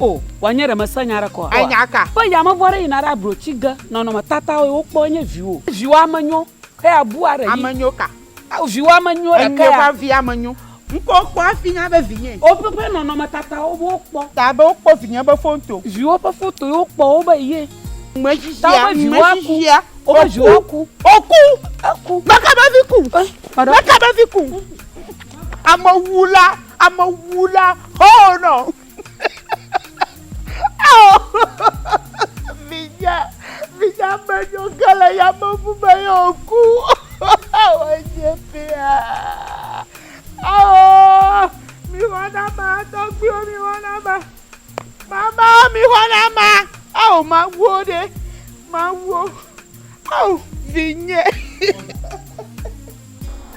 O, wòanye ɖe mèse nya aɖeke oa? Enya ka? Be yameʋu aɖe yina ɖe ablo tsi ge. Nɔnɔmetatawo ye wokpɔe nye viwò. Viwò ame nyo, eya bua ɖe yi. Ame nyo ka? Ao, viwò ame nyo ɖeka ya. Enyo va vi ame nyo. Ŋkɔ kpɔ hafi nya be vinyee. O, ƒe ƒe nɔnɔmetatawo be wokpɔ. Ta be wokpɔ vinye be foto. Viwò ƒe foto ye wokpɔ wo be ye. Ŋme shishia, ŋme shishia. Wobe viwo aku. Woku. Eku. Meka be vi ku. Meka be vi ku. Amewula, amewula, hoo nɔ. Vinya, vinya me nyo ke le yameʋu me ye wòku. Wònye fia. Ao, mi xɔnama, tɔgbuiwo mi xɔnama. Mama mi xɔnama. Ao, mawuo ɖe, mawuo. Ao, vinye.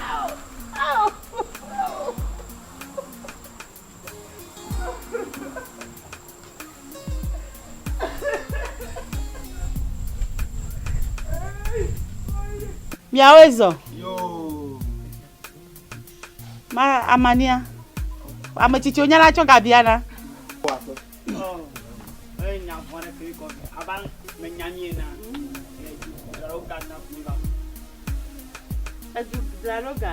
Ao, ao, ao. Miawoe zɔ. Ma amania. Ame tsitsiwo nyana tsɔ gabia na. Edu draɖo ga.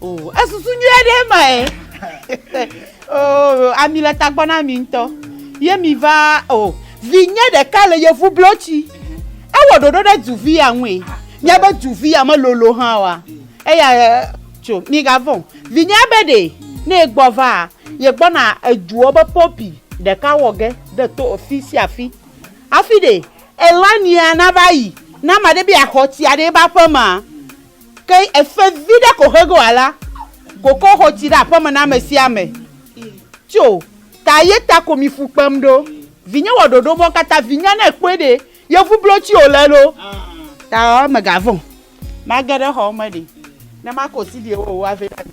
o esusu nyui aɖe ma ye o ami le tagbɔ na mi ŋutɔ ye mi va o vinye ɖeka le yevu blotsi ewɔ ɖoɖo ɖe duvi ya ŋue míabe duvi ya melolo hã wa eya tso mi gavɔ vinye be ɖe ne egbɔ va yegbɔna eduɔ be pɔpi ɖeka wɔ ge de to fi sia fi afi ɖe elania nava yi na ma ɖe be axɔ tsi aɖe ba ƒe ma. Ke efe viɖe ko he goa la, koko xo tsi ɖe aƒeme na ame sia ame. Tso ta ye ta ko mi fu kpem ɖo. Vinye wɔ ɖoɖo mɔ kata vinya ne kpɔe ɖe ye ŋu blo tsi o le ɖo. Ta me ga vɔn. Ma ge ɖe xɔ me ɖe ne ma ko si ɖe wo wa vɛ na mi.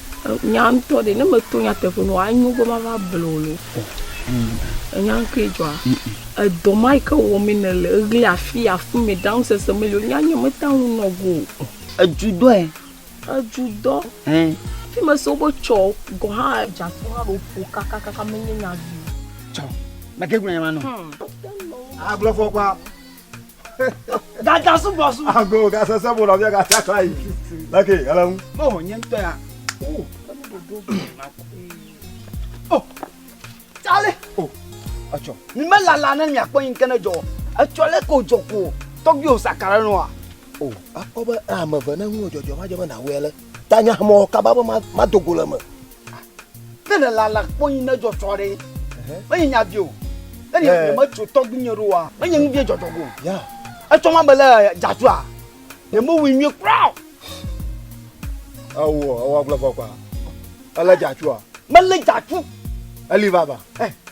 Nya ŋutɔ ɖe, ne meto nyateƒe nɔ, anyo be mava ble wò le wokɔ. Ènya nu kae dzɔa? Edɔ ma yi ke wɔmee nèle, eɣli afii afuimɛ, ɖaŋusese meli o, nya nye metea ŋu nɔ go o. Edzudɔe. Edzudɔ. Ẽ. Fi mese woƒe tsɔ gɔ̃ hã dze afi ma ɖo ƒo kakakaka menye nya vi o. Tsɔ, mète ŋu agblɔ nya ma nɛ o. Agblɔ fɔ kpɔ. Gada sugbɔ su. Ago gasese mo nɔvia gafia kla yi. Lake ele ŋu. Mo nye ŋutɔ ya. Oh, oh. Tsale. Oh, etsɔ. Mi me lala ne miakpɔ yi ŋke ne dzɔ. Etsɔ lɛ ko dzɔ ko. Tɔgbi o sakara nɔ wa. Oh, akpɔ be ame ve ne ŋu dzɔdzɔ ma dzɔ be na wɛ lɛ. Ta nya mɔ kaba be ma dogo le me. Nene la la kpɔnyi ne dzɔ tsɔ ɖe. Menye nya vie o. Ne ne eh. me tso tɔgbi nye ɖo wa. Menye nu vie dzɔ tsɔ go. Ya. Etsɔ ma bele jazua. Ne mo wi nyi kura. Awo, awo agble fɔ kwa. Ele jazua. Mele jazu. Eli baba. Eh.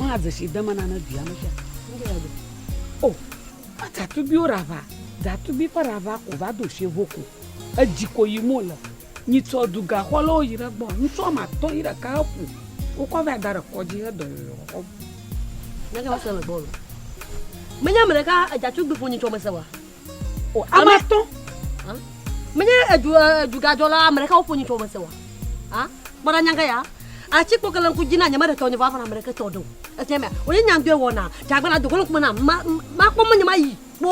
Maa dzesi dema nane dua me sia. O, adzatubiwo rava, dzatubi ƒe rava ko va do sie vo ko. Edzi ko yi mo le. Nyi tsɔ du gaxɔ le wo yi ɖe gbɔ. Ŋutsu ame atɔ yi ɖeka he ƒu. Wokɔ va da ɖe kɔdzi he dɔ yoyo xɔ. Nake va se le gbɔ lo. Menye ame ɖeka adzatubi ƒo nyi tsɔ me se wa. o ame atɔ menye edu edugadzɔla ame ɖeka woƒo nyitsɔ mese wa a kpɔɖa nyaga ya atsi kpɔ kele ŋku dzi na nyeme ɖe tɔ nye va fana ame ɖeke tɔ ɖe o ese mea wònye nyandɔe wɔna dzagbana dogo ŋkume na ma ma kpɔ menye ma yi kpɔ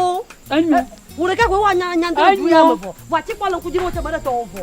enyo wò ɖeka koe wa nyandɔe du ya me vɔ vɔ atsi kpɔ le ŋku dzi na wò tse me ɖe tɔ o vɔ.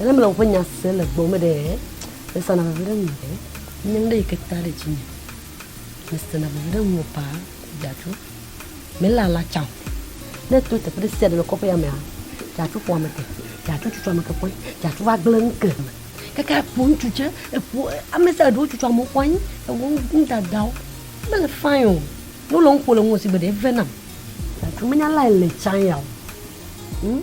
Ena mele woƒe nya se le gbɔ me ɖe mesana veve ɖe ŋu ɖe nye ŋɖe yi ke ta ɖe dzi me. Mesana veve ɖe ŋu paa dzadzro. Mele ala tsa o. Ne to teƒe ɖe sia ɖe le kɔƒe ya mea, dzadzro ƒo ame ke. Dzadzro tutu ame ke ƒɔe. Dzadzro va gblẽ nu ke me. Kaka eƒo ŋutsu tse, eƒo ame sia ɖewo tutu amewo ƒɔe. Ewɔ nudadawo. Mele fine o. Ne wole nu ƒo le ŋu sigbe ɖe eve nam. Dzadzro menya lae le tsa ya o. Hm?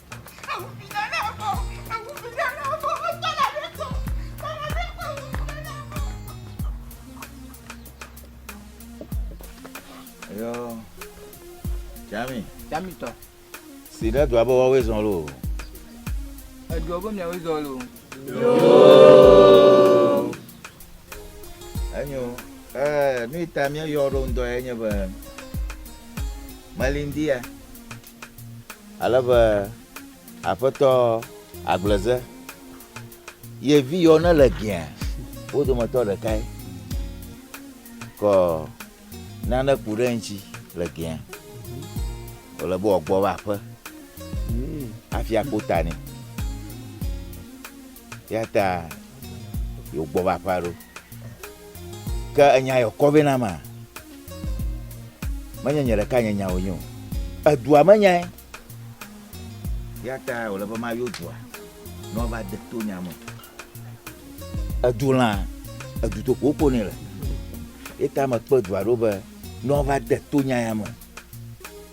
Yo. Jami. Jami tɔ. Si ɖe dua be woawoe zɔn lo. Edua be miawoe zɔn lo. Yoo. Enyo. Ɛɛ nu yi ta míeyɔ ɖo ŋdɔ ye nye be Melindia. ale be Aƒetɔ agbleze ye vi yɔ ne le gea wo dometɔ ɖekae kɔ nane ku ɖe ŋtsi le gea wòle be wòagbɔ va aƒe hafi akpo ta nɛ. Eya ta yewo gbɔ va aƒea ɖo. Ke enya yɔ kɔ vɛ na ma. Menye nye ɖeka nye nyawo nyo. Edua me nyae. Eya ta wòle be ma yɔ dua ne woava de to nya me. Edu lã, edu to ko wokpo nɛ le. Eya ta mekpe dua ɖo be ne woava de to nya ya me.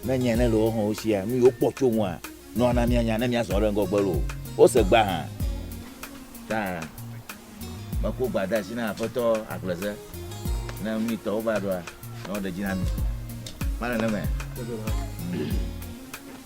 Ne nya ne le woaxɔ wo sia, nu yi wokpɔ tso ŋua, nɔ ana míanya ne míazɔ ɖe ŋgɔgbe loo. Wose gbea hã. Ta meko gba de asi na Aƒetɔ Agbleze ne mí tɔwo va ɖoa, ne woɖe dzi na mí. Male neme.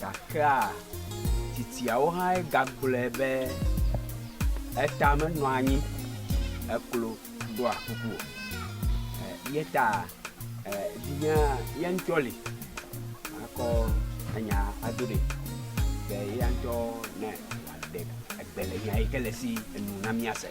Gakea tsitsiawo hãe gagblɔe be, Eta menɔa anyi eklo ɖɔa kuku o. Eya ta vinye ye ŋutɔ li makɔ enya ado ɖee be eya ŋutɔ ne wòaɖe egbe le nya yi ke le esi enu na míase.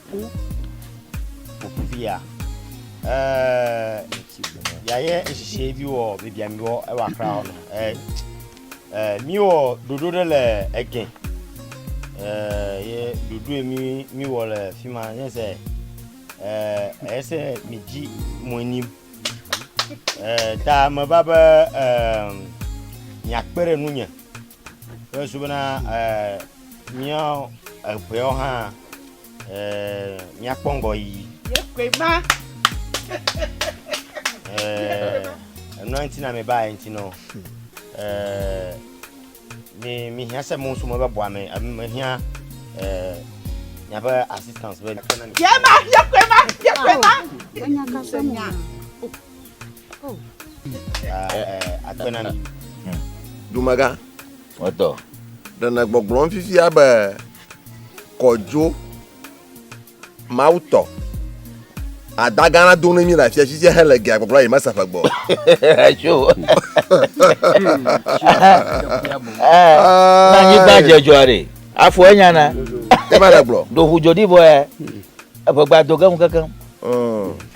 Ku popivia. Eh, ya ye nshishe bi wɔ bibia mi wɔ ewa kra wɔ no. Eh, eh, mi wɔ dodo ɖe le ege. Eh, ye dodo mi mi wɔ le fi ma ne se. Eh, ese mi dzi mo ni. Eh, ta me ba be eh, mi akpere nu nye. Yesu bena eh, mía eŋeawo hã eh, míakpɔ ŋgɔ yiyi. Yekwe ma. Eh, enua ŋuti na mi ba ye ŋuti nɔ. Eh, mi mi hiã se mo sume be bɔa me ame me hiã eh, miaƒe assistance be. Yema, yekwe ma, yekwe ma. Enya ka se nya. Oh. Akpena mi. Dumega. Mɔtɔ. Ɖenɛ gbɔgblɔm fifia be kɔdzo Mawu tɔ. Adagana do ne mi le afia sisi hele gea gbɔgblɔ yi mesa fe gbɔ. Acho. Na nyi gba jejɔ re. Afo enya na. Ema le gblɔ. Do hu jodi boe. Eƒe gba do gem kekem. Mm.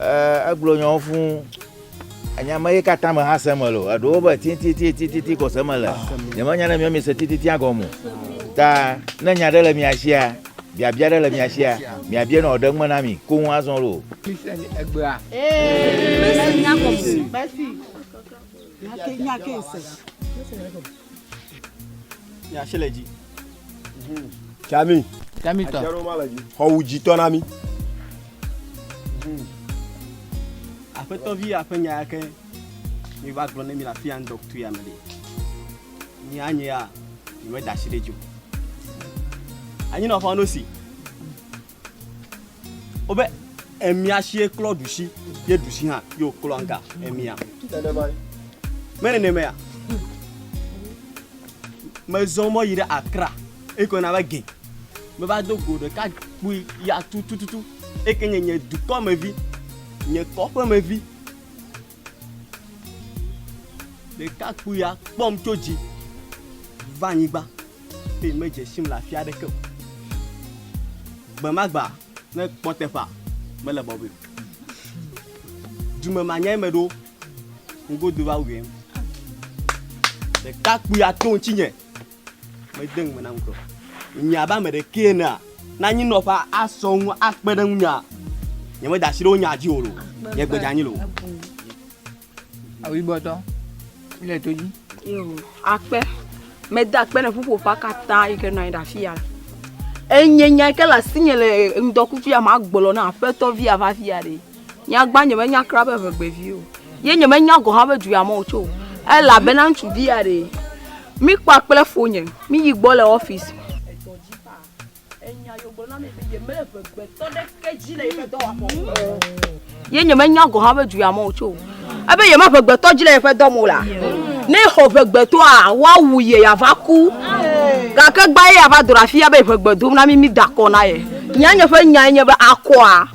Ee, egblɔ nyawo fũ. Enya me ye katã me hã se me lo. Eɖewo be titititititi ko se me le. Nyemenya ne miwo miese tititia gɔme o. Ta ne nya ɖe le mia sia, biabia ɖe le mia sia, miabia nɔ wòaɖe ŋme na mi koŋ azɔ lo. Mese nya gɔme o. Nya ke nya ke ese. Yasi le dzi. Tami. Tami tɔ. Xɔwu dzitɔ na mi. Aƒetɔvi aƒe nya yake mi va gblɔ ne mi le afi ya ŋdɔ kutu ya me ɖi. Nyi anyi ya, mi me da asi ɖe dzi o. Anyi nɔ xɔ nosi. Wobe emia sie klɔ ɖusi ye ɖusi hã ye wòklɔ ŋka emia. Menenemae ya. Mezɔ mɔ yi ɖe Accra eye kɔna va gɛ. Meva do go ɖeka kpui ya tutututu eke nye nye dukɔmevi, nye kɔƒemevi. Ɖekakpuia kpɔm tso dzi va anyigba eye medze sim le afi aɖeke o. Gbe ma gbe ne kpɔ teƒea mele bɔbɔe o. Dume ma nyae meɖo ŋgodo va wuiɛ. Ɖekakpuia to ŋutinye. Mede ŋugbe na ŋutɔ. Nye abe ame ɖekee enea, ne anyinɔƒe asɔ ŋu akpe ɖe ŋunyea, nyemeda asi ɖe wo nya dzi o lo. Nye gbe dzeanyi lo. Awuibɔtɔ, le to dzi. Yo, akpe. Mede akpe ne ƒuƒoƒea katã yi ke nɔ anyi ɖe afi ya. Enye nya yi ke le asinye le ŋdɔkutsu ya magblɔ na aƒetɔ via va via ɖe. Nyagba nyemenya kura be ŋegbevi o. Ye nyemenya gɔ̃ hã be du ya me wotso o. Elabena ŋutsuvi ya ɖee. Mikpɔa kple fonye. Miyi gbɔ le ɔfisi. Ye nyemenya gɔ̃ hã be du ya me wotso o. Ebe yemeʋe gbetɔ dzi le yeƒe dɔ me o la, ne xɔ ʋe gbetɔa, woawu ye yeava ku. Gake gbã ye yeava do ɖe afi ya be yeʋe gbe dom na mí, mida akɔ na ye. Nye nye ƒe nyae nye be, akɔa?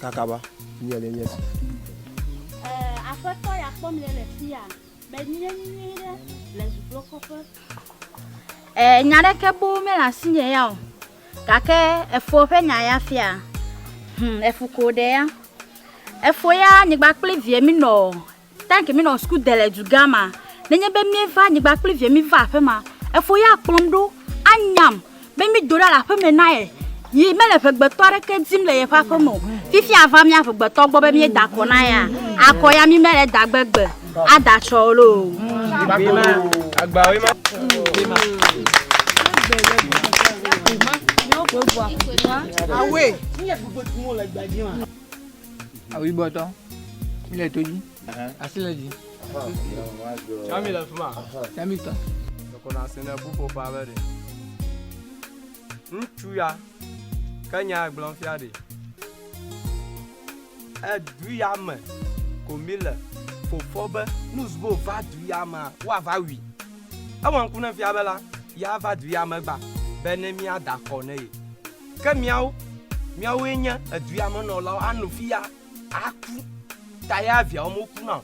Kakaba, mía ɖe nye si. Ɛɛ, Aƒetɔ ya kpɔm le le fiya. Menye nyuie ɖe le zublokɔƒe. Ɛɛ, nya ɖeke boo mele asinye ya o. Gake efoɔ ƒe nya ya fia. Hum, efu ko ɖe ya. Efoɔ ya nyigba kple vie mi nɔ. Tank minɔ suku de le dugã ma. Nenye be mieva nyigba kpli vie miva aƒe ma, efo ya kplɔm ɖo anyam be mi do ɖa le aƒe me na ye. Yi mele ʋegbetɔ aɖeke dim le yeƒe aƒe me o. Fifi ava mia ʋegbetɔ gbɔ be mie da akɔ na ya. Akɔ ya mi mele da gbe gbe ada tsɔ o loo. Away. Awu yibɔ tɔ. Mi le to dzi. Asi le dzi. Tsami le fima. Tsami tɔ. Ekɔna asi ne ƒuƒoƒea be ɖe. Ŋutsu ya ke nya egblɔm fia ɖe. Edu ya me ko mi le. Fofo be nuzbo va du ya mea woava wui. Ewɔ ŋku ne fia be la ya va du ya me gba be ne mia da kɔ ne ye. Ke miawo, miawoe nye edua me nɔlawo ano fi ya aku ta ya viawo moku na o.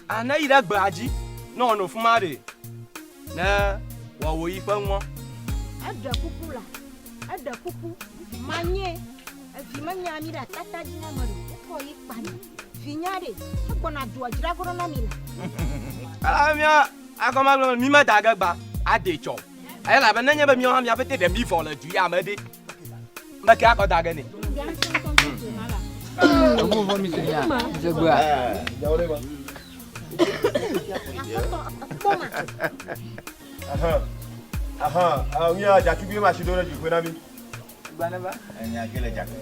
A ne yi ɖe gbea dzi ne wòano fi ma ɖee, ne wòawɔ yi ƒe nuɔ? Eɖe kuku la, eɖe kuku, manye, evi menye ami ɖe atata dzi na ame ɖe o, wokɔ ye kpa nɛ. Vinye aɖe, egbɔna doa dzra goɖo na mi la. Ela be mía agɔme agblɔ be, Mí meda ge gba ade tsɔ o. Elabe nenye be míawo hã mía pete ɖe mívɔ le dui ame ɖe, meke akɔ da ge nɛ. Eŋu vɔ mi se ya, dze gbea. Aha, aha, mía dza tugbui ma si do ɖe dzi ƒe na mi.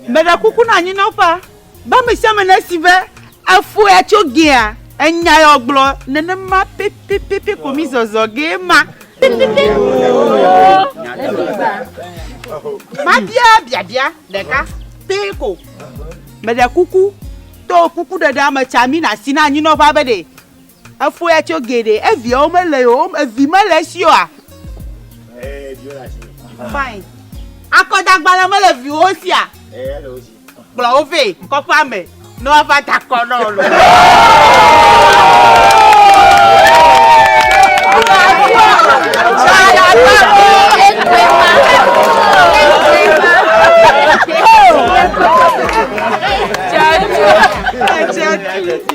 Meɖe kuku na anyinɔƒea be ame sia ame nesi be efɔe tso gea enya ya wògblɔ nenema pɛpɛpɛpɛ ko mi zɔzɔ gee ma. Mabia biabia ɖeka pɛ ko. Meɖe kuku to kukuɖeɖea me tsa mi na asi na anyinɔƒea be ɖe. Efo ya tso geɖe. Eviawo mele ye o. Evi mele esi oa? Ee, viwo le asi me. Fine. Akɔdagbalẽ mele viwo sia? Ee, ele wo si. Kplɔ wo vɛ kɔƒea me ne woava da akɔ na wò. Thank you.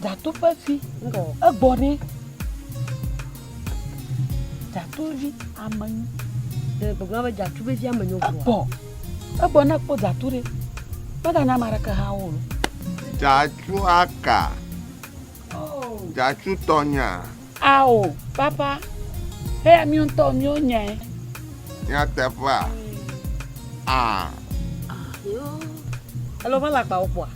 Dzatoƒe fi egbɔ ɖi. Dzatovi ame nyo. Ɖe gbogbo be dzatovi fi ame nyo. Egbɔ. Egbɔ na kpɔ dzato ɖe. Mega nya mara ke ha wo. Dzatu aka. Oh. Dzatu tɔnya. Ao, papa, eya míwo ŋutɔ míwo nyae. Nyateƒea? Aa. Ayo. Elo va le agbawo kpɔa?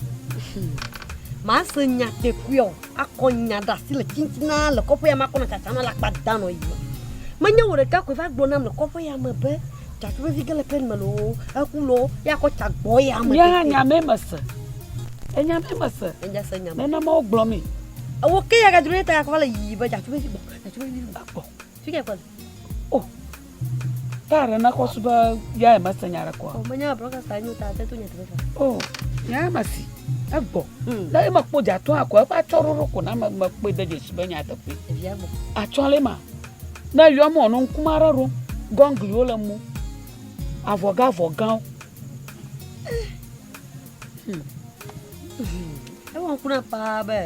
Mase nya kpekpea o, akɔ nya ɖe asi le tintina le kɔƒe ya me akɔ nɔ tsatsam na le akpa da nɔ yi. Menye wò ɖeka koe va gblɔ nam le kɔƒe ya me be. Takuvi ke le plɛn me loo, eku loo, ya kɔ ta gbɔ ya me. Nye hã nya me me se. Enya me me se. Enya se nya me. Nena ma wogblɔ mi. Ewo ke ya gadro ne ta ya kɔ le yi be jatuvi gbɔ, jatuvi gbɔ. Fi ke kɔ le. Oh. Ta re na kɔ su be ya me se nya re kɔ. O me nya broka sa nyu ta te to nya te sa. Oh. Nya ma si. Egbɔ. Hmm. Na e ma kpo jatu akɔ e pa chororo ko na me me kpo de je si be nya te kpo. Evi agbɔ. Achɔ le ma. Ne eyɔ mɔ nɔ ŋkume aɖe ɖo, gɔngliwo le mo, avɔgãvɔgãwo. Hmm. Ewɔ ŋku na paa be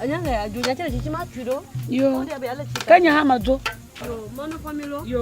anya le adzo nya tse le tsitsi ma tui ɖo. Yo. Ke nya hã me dzo. Yo, mɔnu fɔmi lo. Yo.